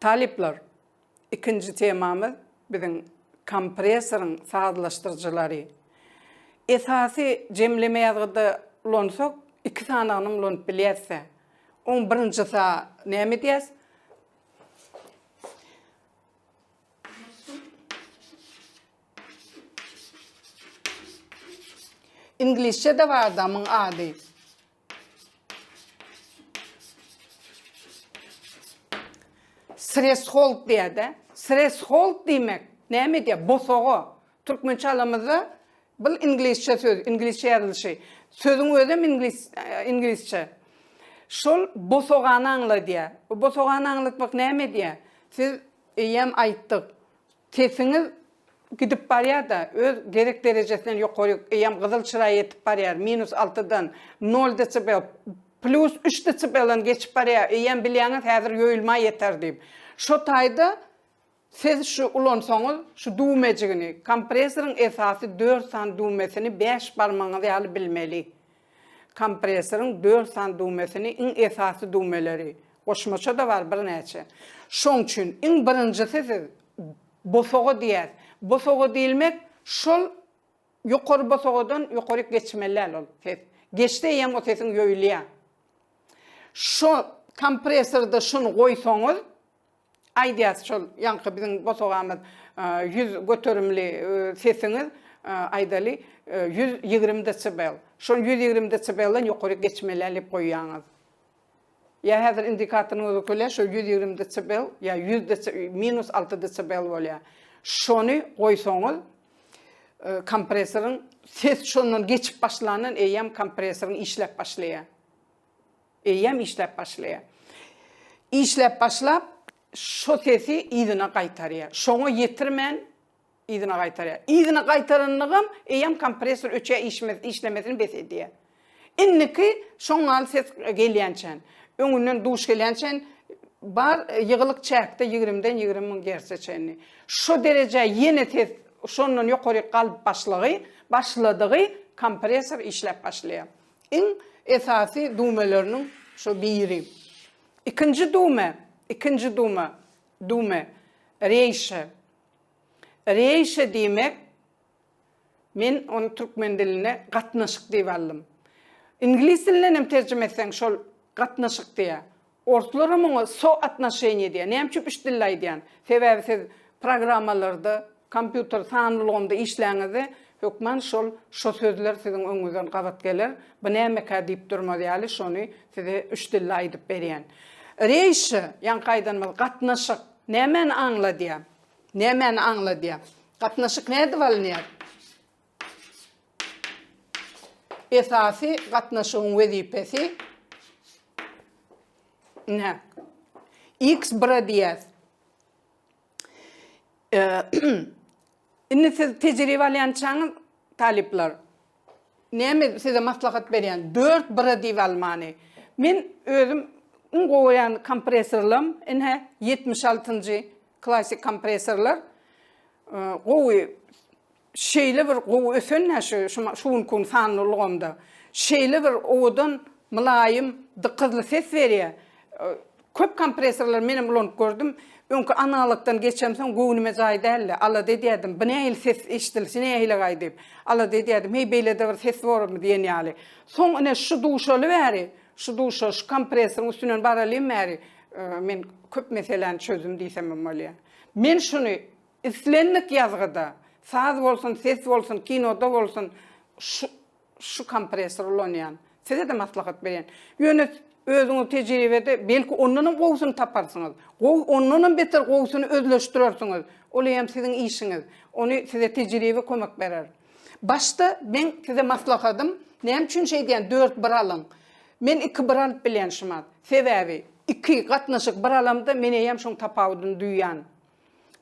Talyplar, ikinji temamyz biziň kompressoryň sazlaşdyryjylary. Esasy jemleme ýazgyda ulansak, iki sanagyny ulanyp bilýäs-de. Oň birinji sa näme edýäs? Iňlisçede bar adamyň ady. Sreshold diýäde. Sreshold diýmek näme diýä? Bosaga. Türkmençe alamyzda bu iňlisçe söz, iňlisçe ýazylyşy. Sözüň özem iňlis iňlisçe. Şol bosagany aňladýa. Bu bosagany aňlatmak näme diýä? Siz eýýäm aýtdyk. Sesiňiz gidip barýada öz gerek derejesinden ýokary eýýäm gyzyl çyra ýetip barýar minus alty dan nol desibel plus üç desibeldan geçip barýar eýýäm bilýäňiz häzir ýoýulma ýeter diýip şo taýda siz şu ulansaňyz şu düwmejigini kompresoryň esasy dört sany düwmesini bäş barmagyňyz ýaly bilmeli. Kompressoryň dört sany düwmesini, iň esasy düwmeleri, goşmaça-da bar birnäçe. Şoň üçin iň birinjisi siz bosaga diýýäs. Bosaga diýilmek şol ýokary bosagadan ýokaryk geçmeli däl ol ses. Geçse eýýäm o sesiň ýoýulýar. Şo kompressorda şuny goýsaňyz, Aýdýas şol ýaňky biziň bosagamyz ýüz göterimli sesiňiz aýdaly ýüz ýigrimi desibel. Şol ýüz ýigrimi desibelden ýokary geçmelä diýip goýýaňyz. Ýa häzir indikatoryňyz ökele şol ýüz ýigrimi desibel ýa ýüz minus alty desibel bolýar. Şony goýsaňyz kompressoryň ses şondan geçip başlandan eýýäm kompressoryň işläp başlaýar. Eýýäm işläp başlaýar. Işläp başlap, şo sesi yzyna gaýtarýar. Şoňa ýetirmän, yzyna gaýtarýar. Yzyna gaýtaranynygam eýýäm kompressor öçýär, işlemesini bes edýär. Indiki şoň ýaly ses gelýänçän, öňünden duş gelýänçän bar ýygylyk çäkde ýigrimden ýigrimi müň gertse çenli. Şo derejä ýene ses şondan ýokaryk galyp başlagy, başladygy kompressor işläp başlaýar. Iň esasy dumeleriniň şo biri. Ikinji dume, ikinji duma, dume, reýşe. Reýşe diýmek, men ony türkmen dilinde gatnaşyk diýip aldym. Iňlis dilinden hem terjime etseň şol gatnaşyk diýýär. Orslara muňa so atnoşeniýa edýär. Näme üçin üç dilde aýdýan? Sebäbi siz programmalarda, kompýuter sanly ulgamda işläňizde, hökman şol şo sözler siziň öňüňizden gabat geler. Bu nämekä diýip durmaz ýaly şony size üç dilde aýdyp berýän. Reýşe, ýaňky aýdanymyz, gatnaşyk. Nämäni aňladýar? Nämäni aňladýar? Gatnaşyk nädip alynýar? Esasy gatnaşygyň wezipesi Ine. X bire diýýäs. Indi siz tejribe alýançaňyz, talyplar, näme size maslahat berýän? Dört bire diýip almany. Men özüm iň goýan kompressorlam, ine, ýetmiş altynjy klassyk kompressorlar gowy Şeýle bir gowy ösen-ä şu şu günki gün sanly ulgamda. Şeýle bir owadan, mylaýym, dykyzly ses berýär. Köp kompressorlary menem ulanyp gördüm. Öňki analogdan geçemsoň göwnüme jaý däldi. Alada edýärdim, bu nähili ses eşidilişi nähilegaý diýip. Alada edýärdim, heý beýlede bir ses bormy diýen ýaly. Soň ine şu duşaly bäri, şu duşa, şu kompressoryň üstünden baralyň bäri men köp meseläni çözdüm diýsemem bolýar. Men şuny Islendik ýazgyda, saz bolsun, ses bolsun, kinoda bolsun şu şu kompressor ulanýan. Size-de maslahat berýän. Ýöne özüňiz tejribede belki ondanam gowusyny taparsyňyz. Gowy ondanam beter gowusyny özleşdirersiňiz. Ol eýýäm siziň işiňiz. Ony size tejribe kömek berer. Başda meň size maslahatym, näme üçin şeýdýän dört bir alyň. Men iki bir alyp bilýän şumat. Sebäbi iki gatnaşyk bir alamda men eýýäm şoň tapawudyny duýýan.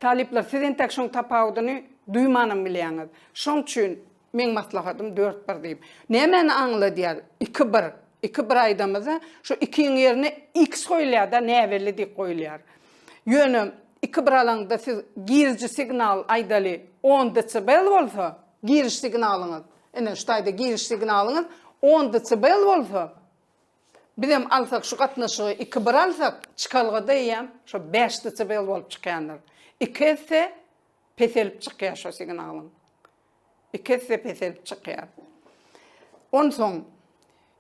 Talyplar, siz entäk şoň tapawudyny duýmanam bilýäňiz. Şoň üçin meň maslahatym dört bir diýip. Nämäni aňladýar iki bir? Iki bir aýdamyzda, şu ikiň ýerine iks goýulýar-da, näbelli diýip goýulýar. Ýöne iki bir alaňda siz giriji signal, aýdaly, on desibel bolsa, giriş signalyňyz, ine, şu taýda giriş signalyňyz on desibel bolsa, Bizem alsak şu gatnaşygy iki bir alsak çykalgada eýýäm şo bäş desibel bolup çykýandyr. Iki esse peselip çykýar şo signalyň. Iki esse peselip çykýar. Onsoň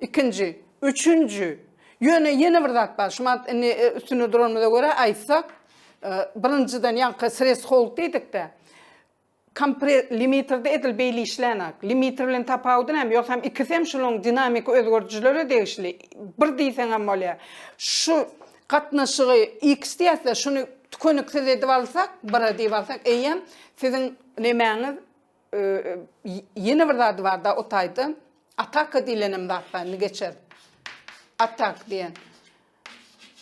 ikinji, üçünji ýöne ýene bir zat bar. Şumat indi e, üstünde duranymyza görä aýtsak, e, birinjiden ýaňky sres hold diýdikde Kompre limiterde edil beýle işlänok. Limiter bilen tapawudy näme? Ýogsam ikisem şunuň dinamiki özgerdijilere degişli. Bir diýseňem bolýar. Şu gatnaşygy X diýäs-de, şuny tükeniksiz edip alsak, bira diýip alsak, eýýäm siziň nemäňiz y ýene bir zady bar-da o taýda. Ataka diýlenem zat bar, indi geçeris. Atak diýen.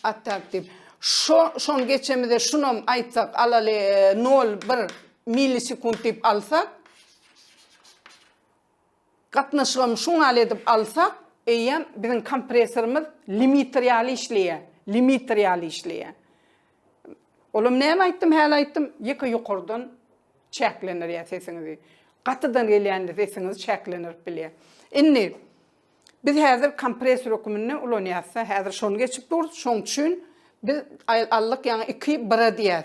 Atak dip. Şo şon geçemize şunam aýtsak alaly 0,1 millisekund dip alsak. Gatnaşygam şuňal edip alsak, eýýäm biziň kompressorymyz limiter ýaly işleýä. Limiter ýaly işleýä. Olam näme aýtdym, häli aýtdym, ýeke ýokardan çäklenir ýa sesiňizi. Gatydan gelýände sesiňiz çäklenirip bilýä. Indi Biz häzir kompressor höküminde ulanýasda, häzir şony geçip durus, şoň üçin biz aldyk ýaňy iki bire diýýäs,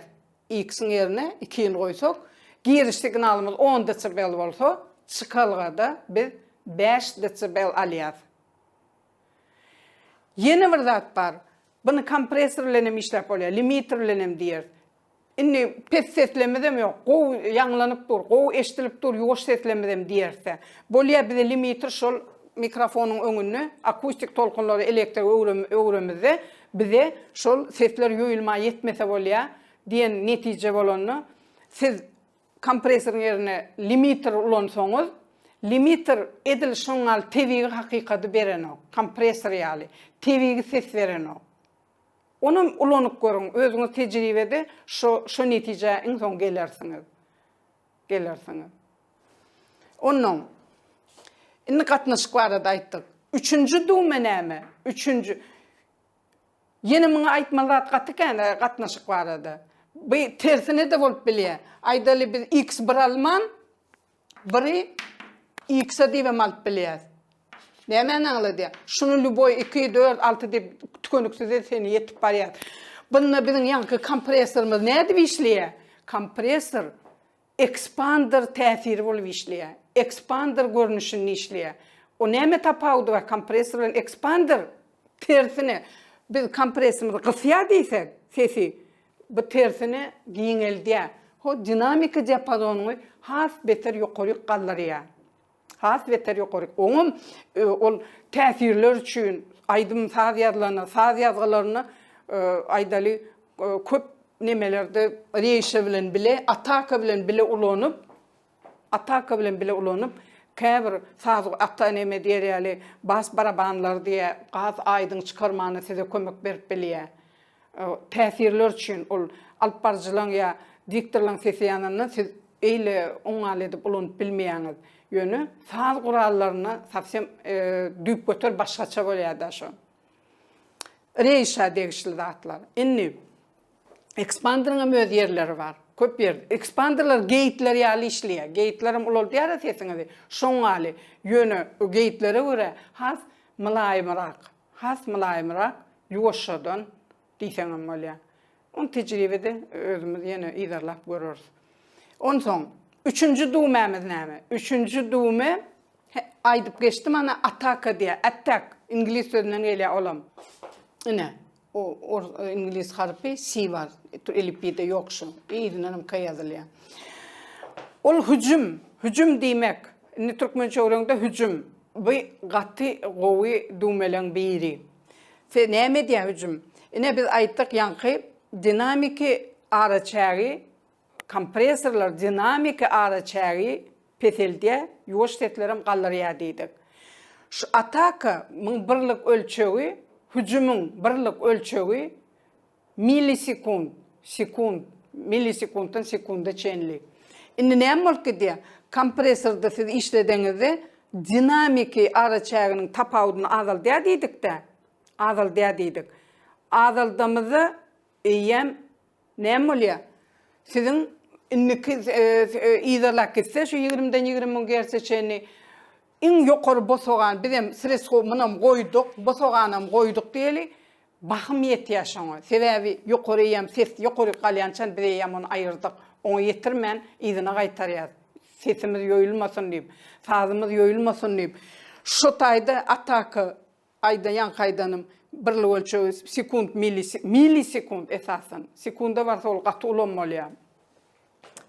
X-iň ýerine iki ýyl goýsak, giriş signalymyz on desibel bolsa, çykalgada biz bäş desibel alýas. Ýene bir zat bar, buny kompressor bilen hem işläp bolýar, limiter bilen hem diýeris. Indi pes seslemizem ýok. Gowy ýaňlanyp dur, gowy eşdilip dur ýuwaş seslemizem diýerse. Bolýa bize limiti şol mikrofonyň öňünde akustik tolkunlary elektrik öwremizde bize şol sesler ýoýulman ýetmese bolýa diýen netije bolanda siz kompresoryň ýerine limiter ulansaňyz limiter edil şoňňal tebigy hakykady berenok kompresor ýaly tebigy ses berenok. Onam ulanyp görüň, özüňiz tejribede şo şo netijä iň soň gelersiňiz. Gelersiňiz. Onnoň Indi gatnaşyk barada aýtdyk. Üçünji duma näme? Üçünji Ýene muňa aýtmaly zat gaty kän gatnaşyk barada. Bu tersine-de bolup bilýär. Aýdaly biz X bir alman, Biri X-a diýibem alyp bilýäs. Nämäni aňladýar? Şuny lýuboý iki, dört, alty diýip tükeniksize çenli ýetip barýar. Bunda biziň ýaňky kompressorymyz nädip işleýär? Kompressor ekspander täsiri bolup işleýär. Ekspander görnüşinde işleýär. O näme tapawudy bar kompressor bilen ekspander? Tersine, biz kompressorymyzy gysýar diýsek, sesi Bu tersine giňeldýär, ho dinamiki diapazonyňy has beter ýokaryk galdyrýar. Has beter ýokaryk. Oňam ol täsirler üçin aýdym saz ýazylanda, saz ýazgylarynda aýdaly köp nemelerde reýşe bilen bile, ataka bilen bile ulanyp, Ataka bilen bile ulanyp, käbir saz ata neme diýer ýaly bas barabanlar diýä has aýdyň çykarmana size kömek berip bilýä. Täsirler üçin ol alyp baryjylaň ýa diktorlaň sesi ýanyndan siz eýle oňňaly edip ulanyp bilmeýäňiz. Ýöne saz gurallarynda sowsem düýpgöter başgaça bolýada şo. Reýşa degişli zatlar. Indi Ekspanderyň hem öz ýerleri bar. Köp ýer. Ekspanderler geýikler ýaly işleýär. Geýikler hem ulaldýar-a sesiňizi. Şoň ýaly. Ýöne o geýiklere görä has mylaýymrak. Has mylaýymrak, ýuwaşjadan diýseň hem bolýar. Ony tejribede özümiz ýene yzarlap göreris. Onsoň, üçünji düwmämiz näme? Üçünji düwme, he, aýdyp geçdim, ana, ataka diýýär. Attack. Iňlis sözünden gelýär olam. Ine. O iňlis harpy si bar. Elipbiýde ýok şu. Yzyndanam k ýazylýar. Ol hüjüm, hüjüm diýmek. Indi türkmençe öwreňde hüjüm. Bu gaty gowy düwmeleň biri. Se näme edýär hüjüm? Ine biz aýtdyk ýaňky dinamiki araçägi Kompressorlar dinamiki azaçägi peseldýär, ýuwaş seslerem galdyrýar diýdik. Şu ataka myň birlik ölçegi, hüjümiň birlik ölçegi millisekund, sekund, millisekunddan sekunda çenli. Indi näme bolup gidýär? Kompressorda siz işledeňizde dinamiki azaçäginiň tapawudyny azaldýar diýdik-dä, azaldýar diýdik. Azaldamyzda eýýäm Näme bolýa? Siziň indiki yzarlap gitse şu ýigrimden ýigrimi müň gerse çenli iň ýokary bosagan bizem sredstwo munam goýduk, bosaganam goýduk diýeli, bahym ýetýä şoňa. Sebäbi ýokary eýýäm ses ýokaryk galýançan biz eýýäm ony aýyrdyk. Oňa ýetirmän yzyna gaýtarýas. Sesimiz ýoýulmasyn diýip, sazymyz ýoýulmasyn diýip. Şu taýda ataka Aýda ýaňky aýdanym birlik ölçegi sekunt milli milli sekunt esasan. Sekunda barsa ol gaty ulam bolýar.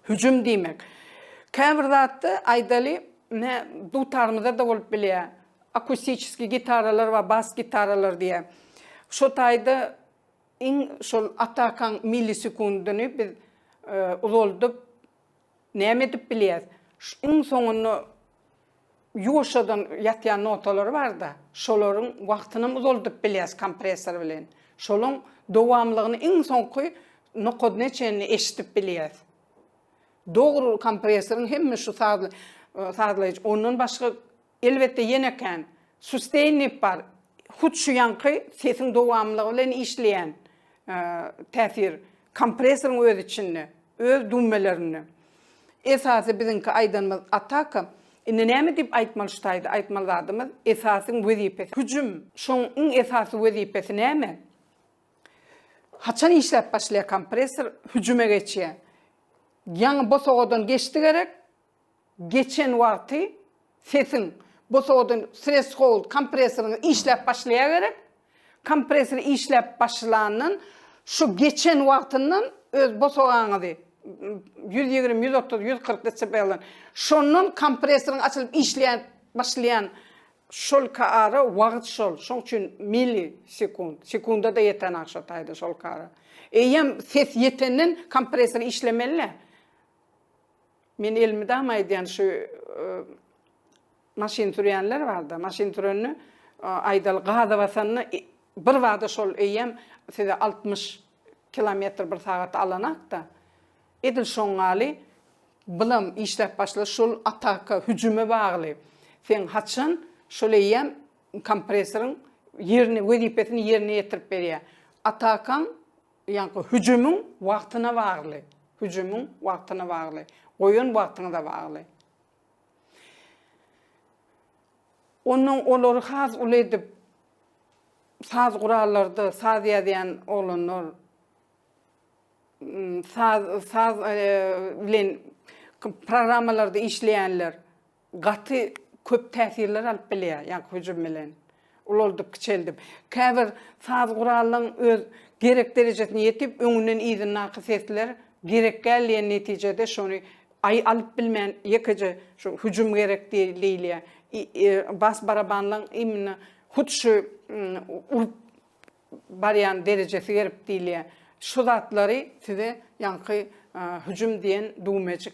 Hüjüm diýmek. Käbir zatda aýdaly ne dutarymyzda da bolup bilýär. Akustiçeski gitaralar we bas gitaralar diýär. Şo taýda iň şol atakaň milli sekundyny biz e, uzaldyp Näme edip bilýäs? Şu iň soňunda ýuwaşjadan ýatýan notalary bar-da, şolaryň wagtynam uzaldyp bilýäs kompressor bilen. Şolaň dowamlygyny iň soňky nokadyna çenli eşidip bilýäs. Dogry kompressoryň hemme şu sazly sazlaýjy ondan başga Elbetde ýene kän. Sustainip bar. Hut şu ýaňky sesiň dowamlylygy bilen işleýän täsir. Kompressoryň öz içinde. Öz dummelerinde. Esasy biziňki aýdanymyz ataka. Indi näme diýip aýtmaly şu taýda aýtmaly zadymyz esasyň wezipesi hüjüm. Şoň iň esasy wezipesi näme? Haçan işläp başlaýar kompressor hüjüme geçýär. Ýaňy bosagadan geçdi gerek. Geçen wagty sesiň bosadan threshold kompressoryňy işläp başlaýa gerek. Kompressory işläp başlandan şu geçen wagtyndan öz bosagaňyzy ýüz ýigrimi, ýüz otuz, ýüz kyrk desibelden şondan kompressoryň açylyp işläp başlaýan şolka ara wagt şol. Şoň üçin milli sekund, sekunda-da ýetenak şo taýda şolka ara. Eýýäm ses ýetenden kompressory işlemeli-le. Men elmydama aýdýan şu maşyn sürýänler barda, maşyn sürende aýdaly gaza basanda birbada şol eýýäm size altmyş kilometr bir sagat alanakda edil şoňňaly bylam işläp başlar şol ataka hüjüme bagly seň haçan şol eýýäm kompressoryň ýerini wezipesini ýerine ýetirip berýär atakaň Ýaňky hüjümiň wagtyna bagly. Hüjümiň wagtyna bagly. Goýan wagtyňyza bagly. Ondan olary has uly edip saz gurallarda saz ýazýan oglanlar saz saz bilen programmalarda işleýänler gaty köp täsirler alyp bilýär, ýaňky hüjüm bilen ulaldyp-kiçeldip. Käbir saz guralynyň öz gerek derejesine ýetip, öňünden yzyndaky sesler gerekgäl diýen netijede şony aý alyp bilmän ýekeje şu hüjüm gerek diýilýär. Bas barabanlaň imminno hut şu urup barýan derejesi gerek diýilýär. Şu zatlary size ýaňky hüjüm diýen düwmejik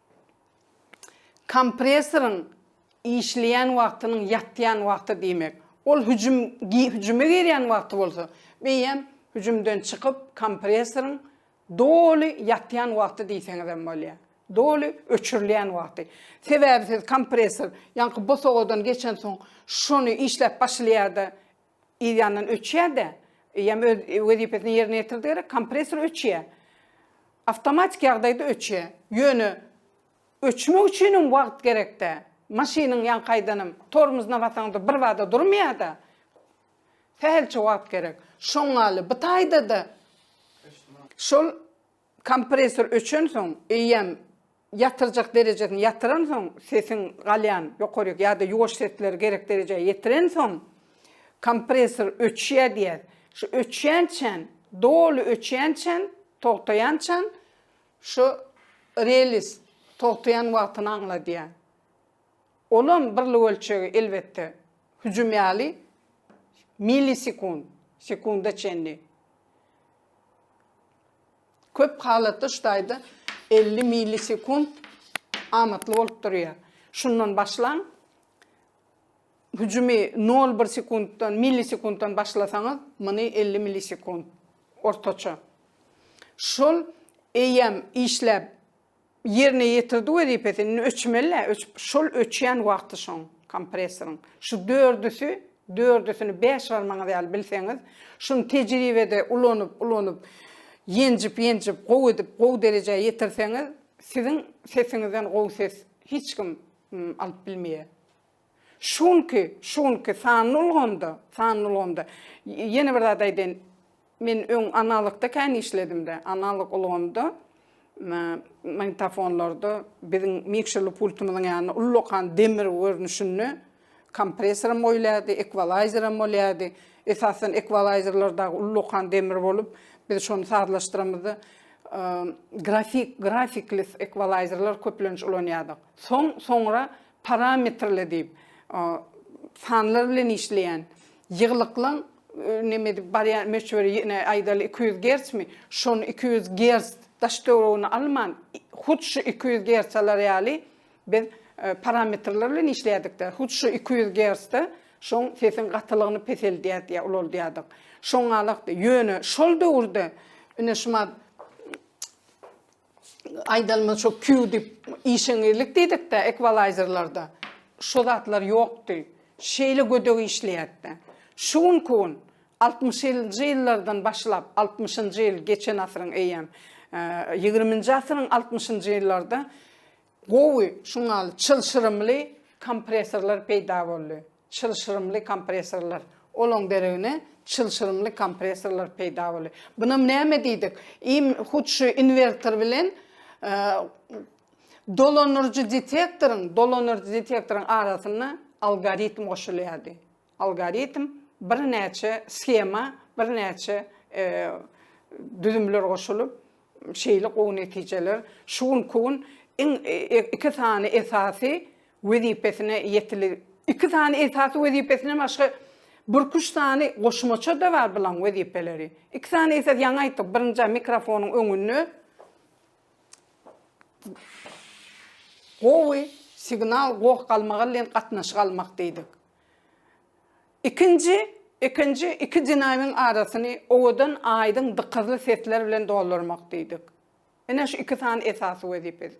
Kompressoryň işleýän wagtynyň ýatýan wagty diýmek. Ol hüjüm hüjüme girýän wagty bolsa, eýýäm hüjümden çykyp, kompressoryň doly ýatýan wagty diýseňiz hem bolýar. Doly öçürilýän wagty. Sebäbi siz kompressor ýaňky bosagadan geçensoň, şony işläp başlaýar-da, Yz ýandan öçýär-de, eýýäm öz wezipesini ýerine ýetirdigere kompressor öçýär. Awtomatik ýagdaýda öçýär. Ýöne öçmek üçinem wagt gerek-dä. Maşynyň ýaňkaýdanam tormuzuna basaňda birbada durmaýar-da. Sähelçe wagt gerek. Şoňňaly bu taýda-da şol Kompressor öçensoň, eýýäm ýatyljak derejesine ýatyransoň, sesiň galýan ýokaryk ýa-da ýuwaş sesleri gerek derejä ýetirensoň, kompressor öçýär diýýär. Şu öçýänçän, doly öçýänçän, togtaýançan şu relis togtaýan wagtyny aňladýar. Olam birlik ölçegi, elbetde, hüjüm ýaly millisekund, sekunda çenli. Köp halatda şu taýda elli millisekunt amatly bolup durýar. Şundan başlaň. Hüjümi nol bir sekuntdan, millisekuntdan başlasaňyz, muny elli millisekunt ortaça. Şol eýýäm işläp ýerine ýetirdi wezipesini indi öçmelä öçüp şol öçýän wagty şoň kompressoryň şu dördüsi dördüsini bäş barmagyňyz ýaly bilseňiz şuny tejribede ulanyp ulanyp ýenjip ýenjip gowy edip gowy derejä ýetirseňiz siziň sesiňizden gowy ses hiç kim alyp bilmeýär Şu günki, şu günki sanly ulgamda, sanly ulgamda, y ýene bir zat aýdaýyn, men öň analogda kän işledim-de, analog ulgamda, m magnitofonlarda biziň mikşerli pultumyzyň ýanynda ullakan demir görnüşinde kompressoram goýulýardy, ekwalaýzeram bolýardy. Esasan, ekwalaýzerler dagy ullakan demir bolup, biz şony sazlaşdyramyzda, y grafik, grafikli ekwalaýzerler köplenç ulanýardyk. Soň, soňra Parametrli diýip, sanlar bilen işleýän ýyglyklyň neme edip barýan möçberi ýene aýdaly iki ýüz gercmi, şony iki ýüz gerc daş töweregini alman, hut şu iki ýüz gerc alar ýaly biz parametrler bilen işleýärdik-de, hut şu iki ýüz gercde şoň sesiň gatylygyny peseldýärdi ýa ulaldýardyk. Şoň galakdy. Ýöne şol döwürde ine şumat aýdalmaz şo kýu diýip işeňizlik diýdikde ekwalaýzerlarda şo zatlar ýokdy. Şeýle gödek işleýärdi. Şu günki gün altmyşynjy ýyllardan başlap, altmyşynjy ýyl geçen asyryň eýýäm ýigriminji asyryň altmyşynjy ýyllarda Gowy şuňal çylşyrymly kompressorlar peýda boldy. Çylşyrymly kompressorlar. Olaň deregine çylşyrymly kompressorlar peýda boldy. Bunam näme diýdik? Im hut şu inwertor bilen dolanyryjy detektoryň, dolanyryjy detektoryň arasynda algoritm goşulýardy. Algoritm birnäçe shema, birnäçe düzümler goşulyp, şeýle gowy netijeler şu günki gün iň iki sany esasy wezipesine ýetili iki sany esasy wezipesinden başga birküç sany goşmaça-da bar bulaň wezipeleri. Iki sany esas ýaňy aýtdyk, birinji mikrofonyň öňünde gowy signal goh galmagalyn gatnaşyk almak diýdik. Ikinji, ikinji, iki dinawyň arasyny owadan, aýdyň, dykyzly sesler bilen doldurmak diýdik. Ine şu iki sany esasy wezipesi.